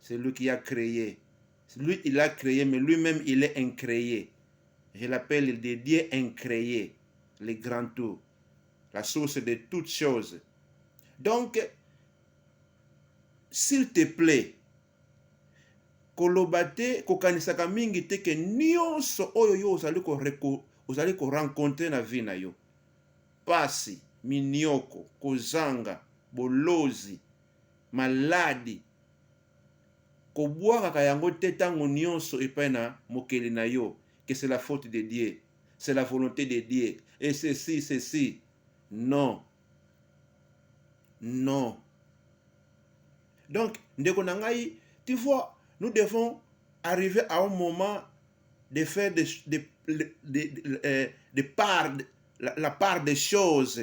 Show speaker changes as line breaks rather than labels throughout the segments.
celui qui a cree lui il a cree mais lui même il est incree je l'appelle de dieu incree le grand tout la source de toutes choses donc s'il te plaît koloba te kokanisaka mingi te ke nyonso oyo yo ozali koreko ozali korencontre na vie na yo pasi minioko kozanga bolozi maladi, kobwakaka yango te tango nionso epai na mokeli na yo que c'est la faute de Dieu, c'est la volonte de Dieu et ceci, ceci. Non! Non! Donc, ndeko na ngai, tu vois, nous devons arriver à un moment de faire de, de, de, de, de, de part, la, la part des choses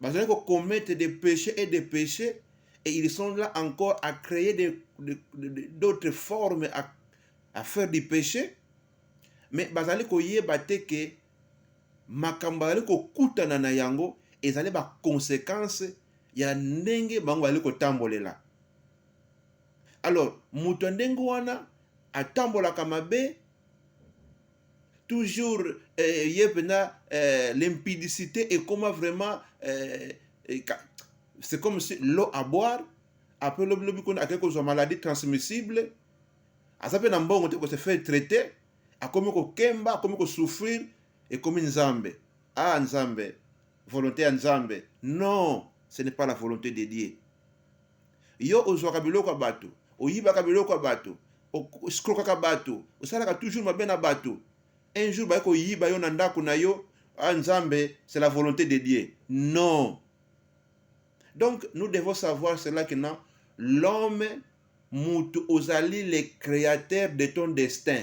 bazali ko commettre des péchés et des péchés et ils sont là encore à créer d'autres formes à, à faire du péché mais bazali koyeba te ke makambo bazali kokutana na yango ezali baconséquence ya ndenge bango bazali kotambolela alors moto ya ndenge wana atambolaka mabe toujours eh, ye pena eh, limpidicité ekoma vraiment eh, eh, c'est comme si l'eau à boire après lobi lobi kuna akei kozwa maladie transmissible aza mpe na mbongo te kose faire traite akomi kokemba akomi kosouffrir ekomi nzambe ah nzambe volonté ya nzambe non ce n'est pas la volonté de dieu yo ozwaka biloko ya bato, oyibaka biloko ya bato, oskrokaka bato, osalaka toujours mabe na bato. Un jour baye koyiba yo na ndako na yo, ah Nzambe, c'est la volonté de Dieu. Non. Donc nous devons savoir cela que non, l'homme mutu ozali le créateur de ton destin.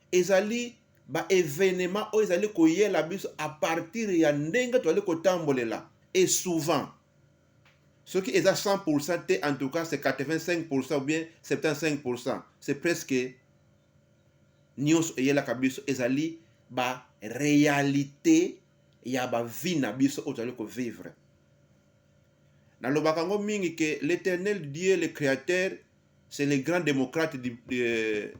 Ezali ba evenements oyo ezali koyela biso a partir ya ndenge tozali kotambolela et souvent soki eza 100% te en tout cas c'est 85% ou bien 75% c'est presque nionso eyelaka biso ezali ba realite ya ba vie na biso oyo tozali kovivre nalobaka yango mingi ke l'éternel dieu le créateur c'est le grand démocrate de, de,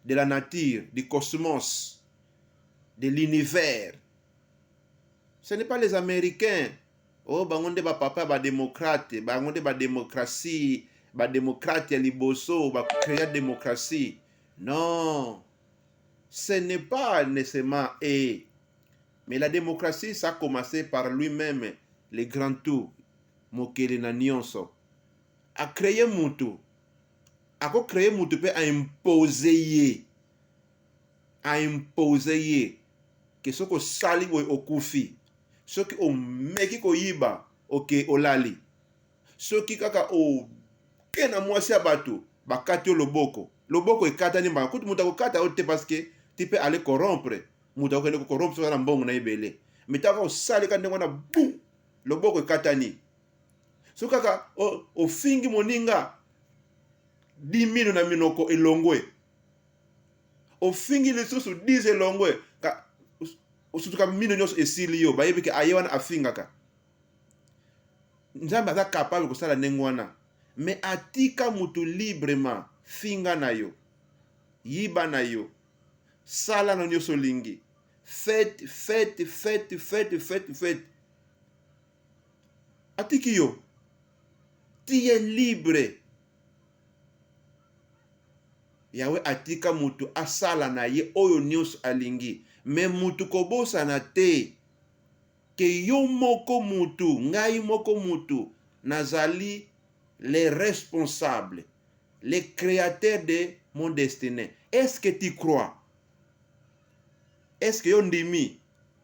de la nature, du cosmos, de l'univers. Ce n'est pas les Américains. Oh, bango nde bapapa bademokrate, bango nde bademokrasi, bademokrate ya liboso, bacrea demokrasi. Non, ce n'est pas nécessairement eux. Mais la démocratie, ça a commencé par lui-même, le grand tout, mokeli na nyonso. a cree mutu ako cree mutu pe a impose ye a impose ye ke soki osali boye okufi soki omeki koyiba oke olali soki kaka oke na mwasi ya bato bakati yo loboko loboko ekatani mbaka kutu moto akokata yo te paske ti mpe ale corrompre moto akokende kokorompre soki na mbongo na ebele mitaka osalika ndenge wana bu loboko ekatani so kaka ofingi moninga dimino na minoko elongwe ofingi lisusu 10 elongwe osutuka mino nyonso esili yo bayebi ke aye wana afingaka nzambe aza capable kosala ndenge wana me atika motu librement finga na yo yiba na yo sala na nyonso olingi fete fete fete fete fete fete atiki yo tiye libre yawe atika moto asala na ye oyo nyonso alingi me moto kobosana te ke yo moko motu ngai moko motu nazali le responsable le créateur de mon destiné est ce que tu crois est ce que yo ndimi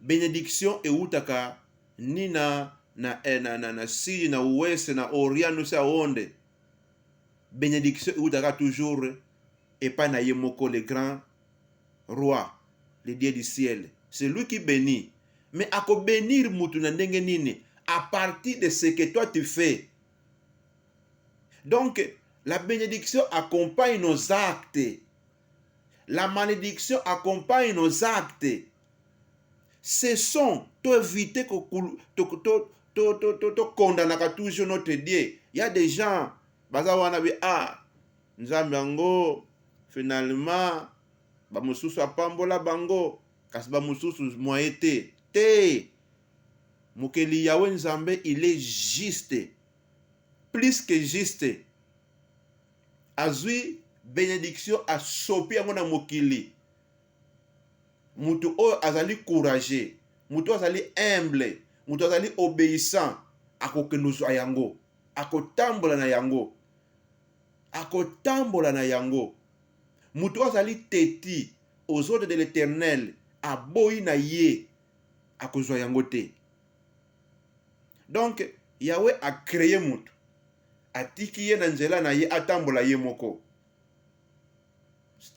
benediction ewutaka ni na na eh, na na na sidi na ouest na orient no se aonde benediction ewutaka toujours epai na ye moko le grand roi le dieu du ciel c'est lui qui bénit mais akobenir mutu na ndenge nini à partir de ce que toi tu fais donc la bénédiction accompagne nos actes la malédiction accompagne nos actes cessons to éviter tokondanaka toujours notre dieu ya des gens baza wana be a ah, nzambe yango finalement bamosusu apambola bango kasi bamosusu mwaye te te mokeli yawe nzambe il est juste plus que juste azui benediction asopi yango na mokili moto oyo azali courageux moto oyo azali humble moto azali obéissant akokende ozwa yango akotambola na yango akotambola na yango moto oyo azali teti aux ordres de l'éternel aboyi na ye akozwa yango te Donc Yahweh a cree moto, atiki ye na nzela na ye atambola ye moko,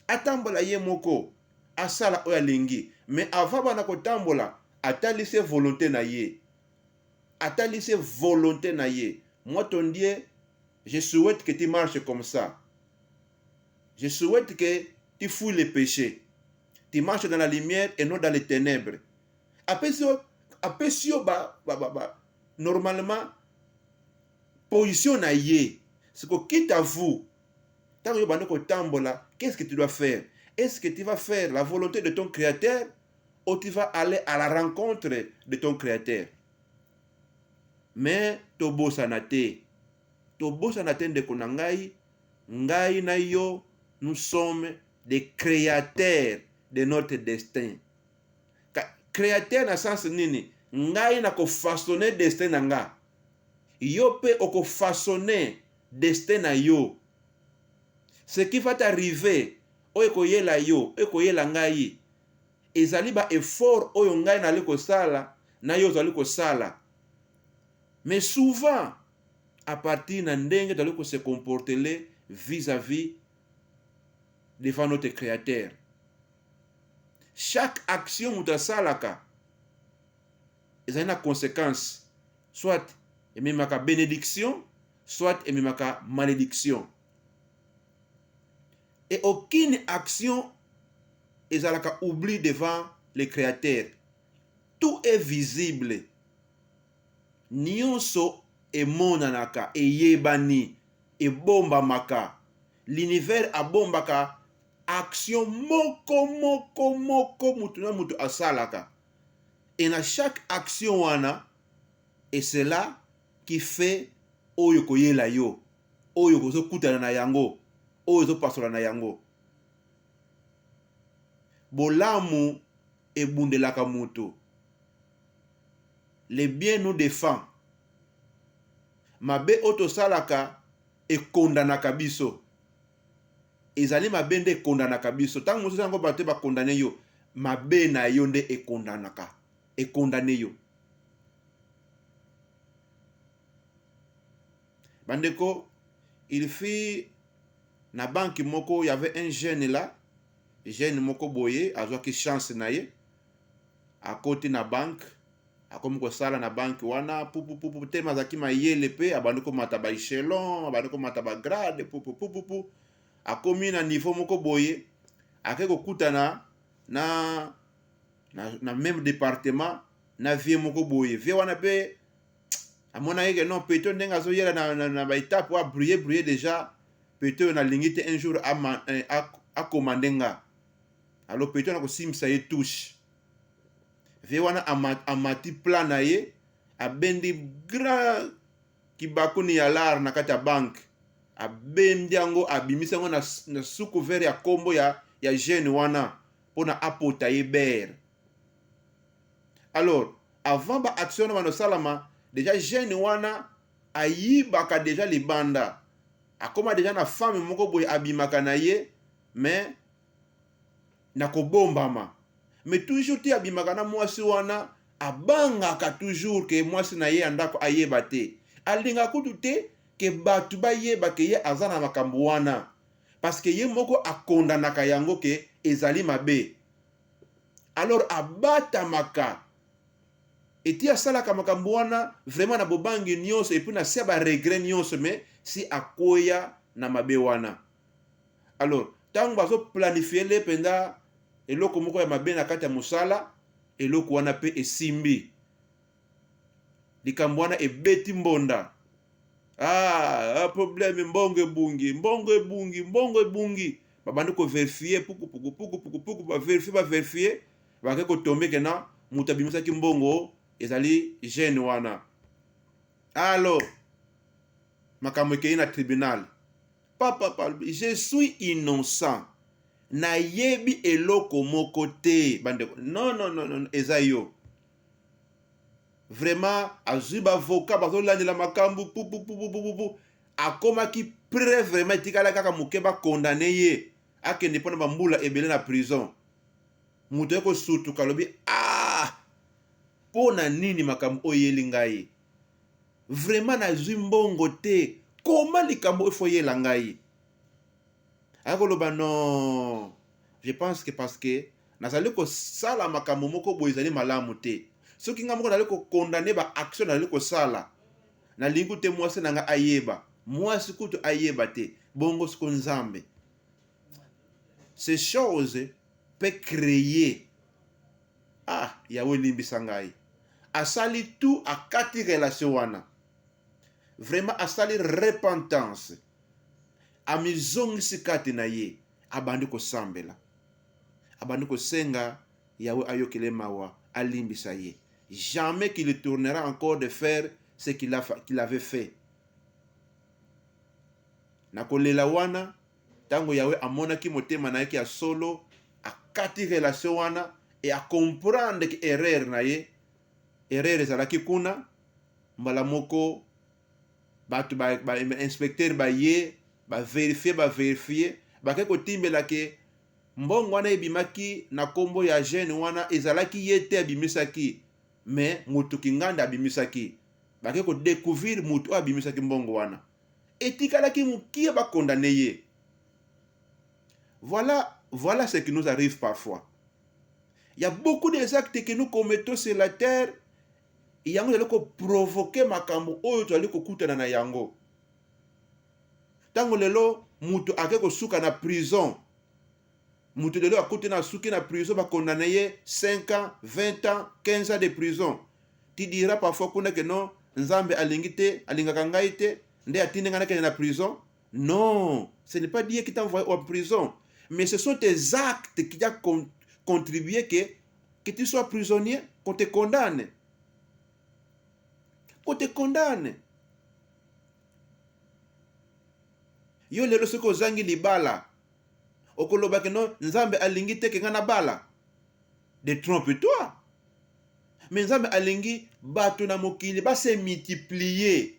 atambola ye moko, asala oyo alingi. Mais avant bana kotambola, atali se volonte na ye, atali se volonte na ye. Moi ton Dieu, je souhaite que tu marches comme ça. Je souhaite que tu fouilles les péchés. Tu marches dans la lumière et non dans les ténèbres. apesi yo apesi yo ba, ba, ba, ba normalement position na ye siko quitte à vous ntango yo bandi kotambola qu'est ce que tu dois faire est ce que tu vas faire la volonté de ton créateur ou tu vas aller à la rencontre de ton créateur mais tobosana te tobosana te ndeko na ngai ngai na yo nous sommes des créateurs de notre destin createur na sens nini ngai na kofasone destin na nga yo mpe okofasone destin na yo ce qui va t'arriver oyo ekoyela yo ekoyela ngai ezali ba effort oyo ngai nali kosala na yo ozali kosala mais souvent à partir na ndenge tozali kose comportele vis-à-vis devant notre créateur Chaque action moto asalaka ezali na consequence, soit ememaka benediction, soit ememaka malediction. Et aucune action ezalaka oubli devant le Créateur. Tout est visible. Nionso emonanaka, eyebani, ebombamaka. L'univers abombaka action moko moko moko moto na moto asalaka et na chaque action wana et cela qui fait oyo koyela yo oyo kozokutana na yango oyo ezopasola na yango bolamu ebundelaka moto le bien nous défend mabe oyo tosalaka ekondanaka biso Ezali mabe nde ekondanaka biso. Tango mosusu yango bato te ba condamne yo, mabe na yo nde ekondanaka, e condamne yo. Ba ndeko, il fit na banque moko, il y'avait un jeune là, jeune moko boye, azwaki chance na ye, akoti na banque, akomi kosala na banki wana pupupupu teme azalaki mayele mpe abandi komata ba echelon abandi komata ba grade pupupupupu akomi na niveau moko boye ake kokutana na, na, na meme departement na vie moko boye vie wana mpe amonaki ke non peto ndenge azoyela na, na, na baetape oyo abrie brie déjà peto oyo nalingi te un jour akomande eh, nga alo peto nakosimbisa ye touche vie wana amati plan na ye abendi grand kibakuni ya lar na kati ya banke abendi yango abimisi yango na, na suku vere ya kombo ya, ya jeune wana mpona apota ye bere alors avant ba action wana banosalama deja jeune wana ayibaka deja libanda akoma deja na femme moko boye abimaka na ye mais na kobombama mais toujours ti abimaka na mwasi wana abangaka toujours ke mwasi na ye ya ndako ayeba te alinga kutu te ke bato bayeba ke ye aza na makambo wana parce que ye moko akondanaka yango ke ezali mabe alors abatamaka eti asalaka makambo wana vraiment na bobangi nyonso epuis na se ya baregret nyonso mais si akweya na mabe wana alors ntango bazoplanifie le mpenza eloko moko ya mabe na kati ya mosala eloko wana mpe esimbi likambo wana ebeti mbonda ah, ah problème mbongo ebungi mbongo ebungi mbongo ebungi babandi koverifie pukupuku pukupuku puku baverifie baverifie bake kotombeke na moto abimisaki mbongo ezali gene wana alo makambo ekei na tribunal Papa alobi je suis innocent, nayebi eloko moko te bandeko. Non, non, non, non, eza yo vraiment. Azwi bavoka bazolandela makambo pupupupupupu, akomaki pre vraiment, etikala kaka moke bakondane ye akende mpo na bambula ebele na prison. Moto ye kosutuka alobi ah, mpo na nini makambo oyo eyeli ngai vraiment nazwi mbongo te koma likambo il faut yela ngai akoloba non je pense que parce que nazali kosala makambo moko boye ezali malamu te soki ngai moko nazali kokondane baaction nazali kosala nalingi kutu te mwasi na ngai ayeba mwasi kutu ayeba te bongo siko nzambe ces choses peut créer ah yawe limbisa ngai asali tout akati relation wana vraiment asali repentance amizongisi kati na ye abandi kosambela abandi kosenga yawe ayokele mawa alimbisa ye jamais qu'il tournera encore de faire ce qu'il qu avait fait na kolela wana Tango Yahweh amonaki motema na ye ke ya solo akati relation wana et a comprendre ke erreur na ye, erreur ezalaki kuna, mbala moko batu ba, ba inspecteur baye ba verifier ba verifier bake kotimbela ke mbongo wana ebimaki na kombo ya jeune wana ezalaki ye te abimisaki mais mutu kinganda abimisaki bake ko découvrir mutu oyo abimisaki mbongo wana etikalaki mukie ba condamne ye voilà voilà ce qui nous arrive parfois il y a beaucoup des actes que nous commettons sur la terre yango ezali koprovoke makambo oyo tozali kokutana na yango ntango lelo moto ake kosuka na prison moto lelo akuti na suki na prison ba condamne ye 5 ans 20 ans 15 ans de prison ti dira parfois kuna ke non nzambe alingi te alingaka ngai te nde atindi ngai nakende na prison non ce n'est pas dieu qui t'a envoyé en prison mais ce sont tes actes qui a con contribué que que tu sois prisonnier qu'on te condamne qu'on te condamne yo lelo soki ozangi libala Okoloba que non, Nzambe alingi te que nga nabala. Détrompe-toi. Mais Nzambe alingi bato na mokili ba se multiplier.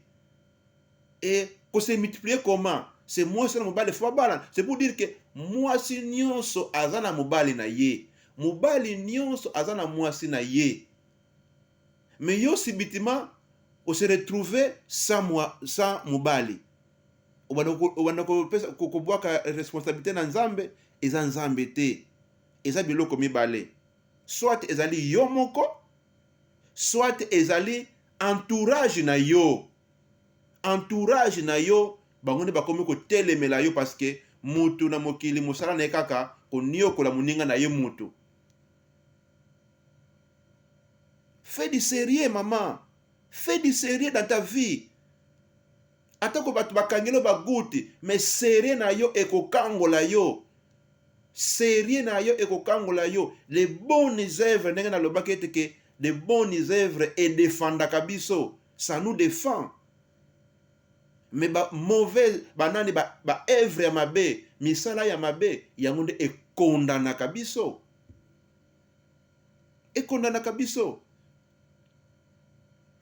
Et ko se multiplier comment? C'est mwasi na mobali faut babalana. C'est pour dire que mwasi nyonso aza na mobali na ye. Mobali nyonso aza na mwasi na ye. mais yo subitement o se retrouver sans moi sans mobali obanda kopesa kobwaka responsabilité na nzambe eza nzambe te eza biloko mibale soit ezali yo moko soit ezali entourage na yo entourage na yo bango nde bakomi kotelemela yo parce que mutu na mokili mosala na ye kaka koniokola moninga na ye mutu Fais du serieux maman, fais du serieux dans ta vie. Atako bato bakangeli yo bagoutte, mais serieux na yo ekokangola yo. Serieux na yo ekokangola yo. Les bonnes œuvres, ndenge nalobaki ete ke les bonnes œuvres edefandaka biso, ça nous défend. Mais ba mauvais banani ba, ba œuvre ya mabe, misala ya mabe, yango nde ekondanaka biso. ekondanaka biso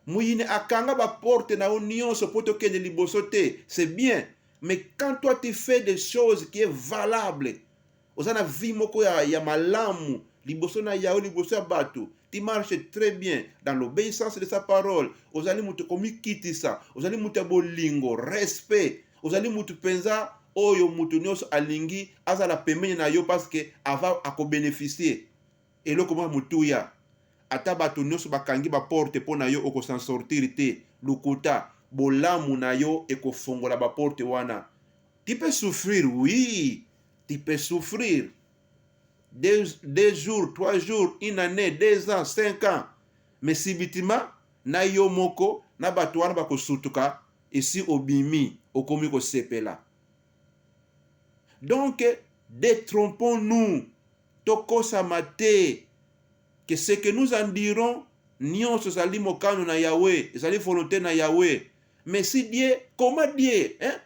moyini akanga baporte na yo nyonso mpo tokende liboso te c'est bien mais quand toi tu fais des choses qui est valable oza na vie moko ya, ya malamu liboso na yawe liboso ya bato ti marche très bien dans l'obéissance de sa parole ozali moto komikitisa ozali moto ya bolingo respect ozali mutu mpenza oyo mutu nyonso alingi azala pembeni na yo paske ava akobenefisie eloko mwa motuya ata bato nyonso bakangi baporte mpo na yo okosan sortir te lukuta bolamu na yo ekofongola baporte wana tu peux souffrir oui tu peux souffrir deux, deux jours trois jours une année deux ans cinq ans mais sibitima na yo moko na bato wana bakosutuka esi obimi okomi kosepela donc detrompons nous tokosama te que ce que nous en dirons nyonso ezali mokano na yawe ezali volonte na yawe mais si die koma die hein?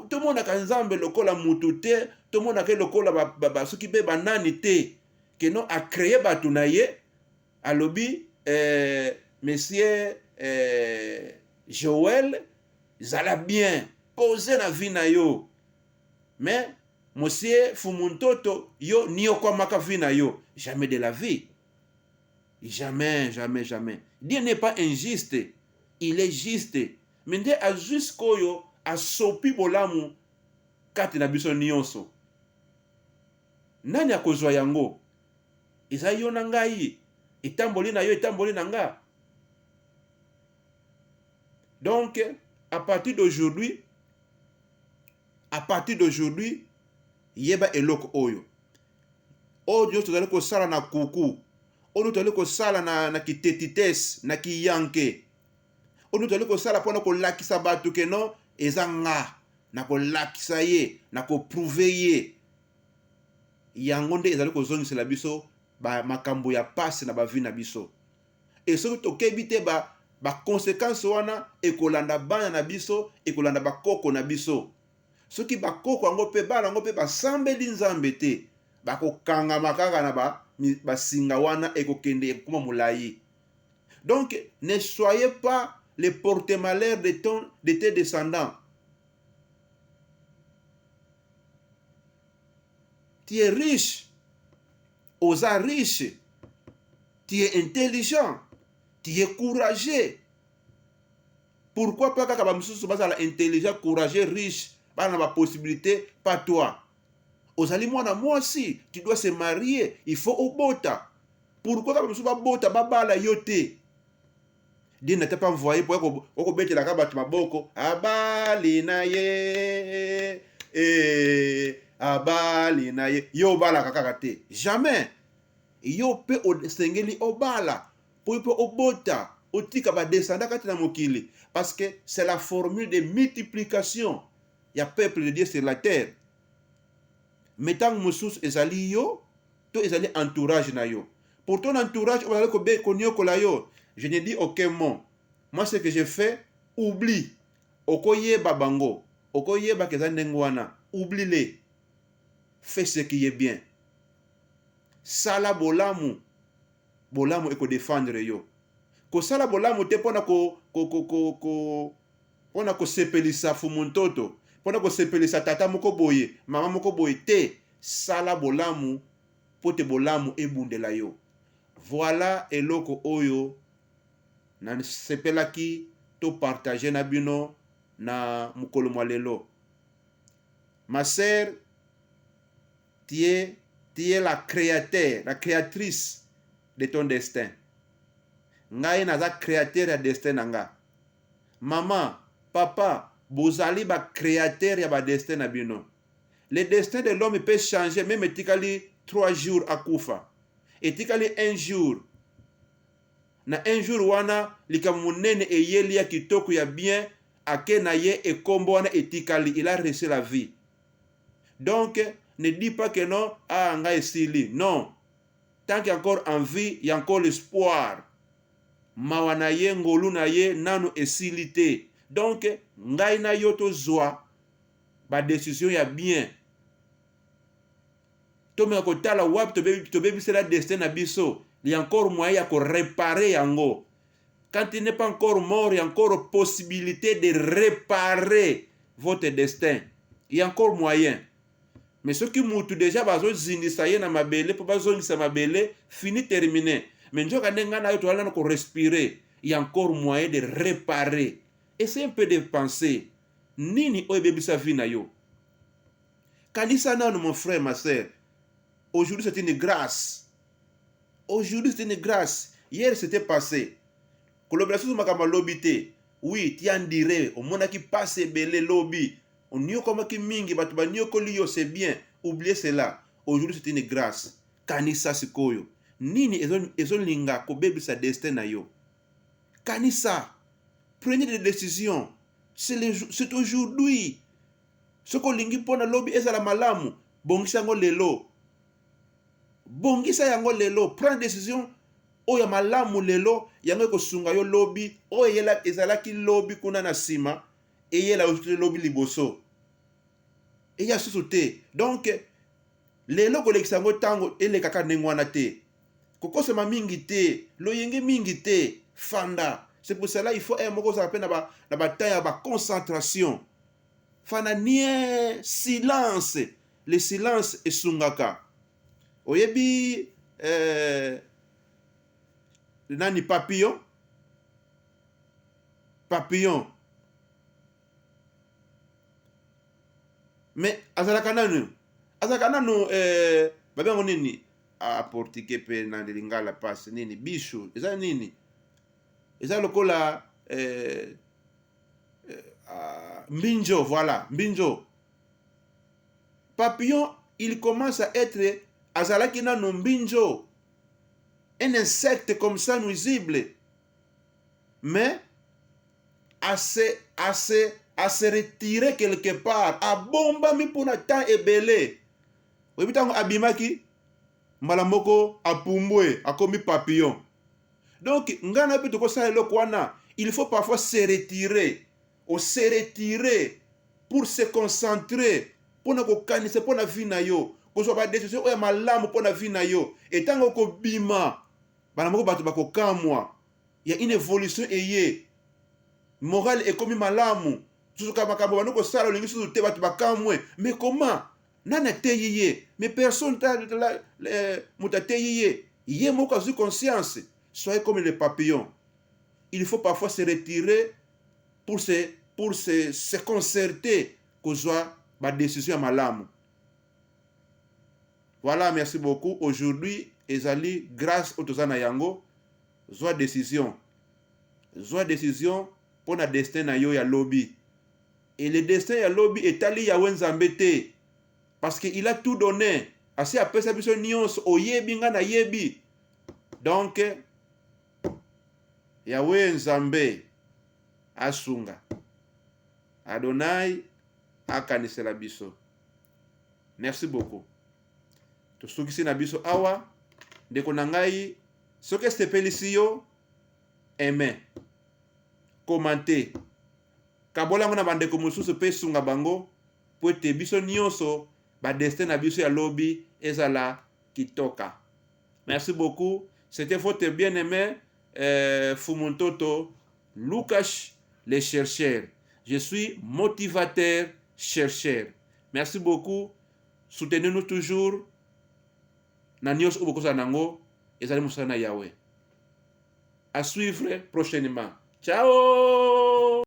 tomonaka to, to nzambe lokola mutu te tomonaka ye lokola soki mpe banani te keno acreye bato na ye alobi eh, monsieur eh, joel zala bien pose na vie na yo mais monsieur fumuntoto yo niokwamaka vie na yo jamais de la vie jamais jamais jamais dieu n'est pas injuste il est juste me nde azwi sikoyo asopi bolamu kati na biso nyonso nani akozwa yango eza yo na ngai etamboli na yo etamboli na nga donc à partir d'aujourd'hui à partir d'aujourd'hui yeba eloko oyo oyo nyonso tozali kosala na kuku oyo tozali kosala na, na kitetites na kiyanke oyo tozali kosala mpona kolakisa bato keno eza nga na kolakisa ye na koprouve ye yango nde ezali kozongisela biso ba makambo ya pasi na bavi na biso e soki tokebi te ba bakonsekanse wana ekolanda bana na biso ekolanda bakoko na biso soki bakoko yango mpe bana yango mpe basambeli nzambe te bakokangama kaka na basinga ba wana ekokende ekokoma molai donc ne soyez pas le porte malheur de, ton, de tes descendants tu es riche oza riche tu es intelligent tu es courageux pourquoi pas kaka bamosusu bazala intelligent courageux riche bana na bapossibilité pas toi ozali mwana mwasi tu dois se marier il faut obota pourquoi kaka bamosusu babota babala yo te Dine n'était pas envoyé pour kobetelaka bato maboko abali na ye eh, abali na ye yo obalaka kaka te jamais yo mpe osengeli obala mpo mpe obota otika badesanda kati na mokili parce que c'est la formule de multiplication ya peuple de dieu sur la terre mais ntango mosusu ezali yo to ezali entourage na yo Pour ton entourage oyo bazali koniokola yo, je ne dis aucun mot. Moi ce que je fais, oublie. Okoyeba bango, okoyeba ke eza ndenge wana, oublie les. Fais ce qui est bien. Sala bolamu, bolamu eko defendre yo. Kosala bolamu te pona ko, ko, ko, ko, ko pona kosepelisa fumu ntoto, pona kosepelisa tata moko boye, mama moko boye te. Sala bolamu mpo te bolamu ebundela yo. Voila eloko oyo na sepelaki to partager na bino na mokolo mwa lelo. Ma sœur, tu es, tu es la créateur, la créatrice de ton destin. Ngai naza créateur ya destin na nga. Mama, papa, bozali ba créateur ya ba destin na bino. le destin de l'homme peut changer meme etikali 3 jours akufa etikali un jour na un jour wana likambo monene eyeli ya kitoko ya bien ake na ye ekombo wana etikali il a rese la vie donc ne dis pas que non a ah, nga esili non tant que encore en vie ya encore l'espoir mawa na ye ngolu na ye nanu esili te donc ngai na yo tozwa ba decision ya bien tomeka kotala wapi tobebisela destin na biso il y a encore moyen ya koreparer yango quand il n'est pas encore mort il y a encore possibilité de reparer votre destin il y a encore moyen mais soki mutu deja bazozindisa ye na mabele mpo bazongisa mabele fini termine mais nzoka nde ngai nayo toyala na korespire il y a encore moyen de reparer essaye un peu de penser nini oyo ebebisa vie na yo kanisa nanu mon frère ma sœur aujourd'hui c'est une grâce aujourd'hui c'est une grâce hier c'était passé kolobela susu makambo alobi te oui tiandire omonaki mpasi ebele lobi oniokomaki mingi bato baniokoli yo c'est bien oublie cela aujourd'hui c'est une grâce kanisa sikoyo nini ezolinga kobebisa destin na yo kanisa prenez des décisions c'est aujourd'hui soki olingi mpo na lobi ezala malamu bongisa yango lelo bongisa yango lelo prend decision oyo ya malamu lelo yango ekosunga yo lobi oyo ezalaki lobi kuna na nsima eyela yo te lobi liboso eya susu te donk lelo kolekisa yango ntango elekaka ndenge wana te kokosama mingi te loyenge mingi te fanda c'est pour cela il faut heure moko ozala mpe na batemp ya baconcentration fanda nie silence le silence esungaka oyebi eh, nani papillon papillon mais azalaka nanu azalaka nanu eh, babengo nini a portugais pe na lingala pasi nini bisu eza nini eza lokola eh, eh, ah, mbinjo voilà mbinjo papillon il commence à être azalaki nano mbinjo un insecte comme ça nuisible mais à se, à se, à se retirer quelque part abombami mpona temps ebele oyebi ntango abimaki mbala moko apumbwe akomi papillon donc ngai na yo mpe tokosala eloko wana il faut parfois se retirer ose retirer pour se concentrer mpo na kokanisa mpo na vie na yo kozwa badecision oyo ya malamu mpo na vie na yo etango okobima bana moko bato bakokamwa ya une evolution eye morale ekomi malamu susuka makambo bani kosala olingi susu te bato bakamwe mais koma nani ateyi ye mais personne moto ateyi ye ye moko azwi conscience soyez comme le papillon il faut parfois se retirer pour se, pour se, se concerter kozwa badécision ya malamu voilà merci beaucoup aujourd'hui ezali grâce oyo toza na yango zwa décision zwa décision mpo na destin na yo ya lobi Et le destin ya lobi etali Yahweh Nzambe te parce que il a tout donne asi apesa biso nionso oyebi nga na yebi donc Yahweh Nzambe asunga Adonai akanisela biso merci beaucoup tosukisi na biso awa ndeko na ngai soki esepelisi yo aime commente Kabola yango na bandeko mosusu mpe sunga bango mpo ete biso nyonso ba destin na biso ya lobi ezala kitoka. Merci beaucoup. C'était votre bien-aimé euh, Fumu Ntoto Lucas le chercheur. Je suis motivateur chercheur. Merci beaucoup. Soutenez-nous toujours. Na nyonso oyo bokozala nango ezali mosala na Yahweh. À suivre prochainement. Ciao!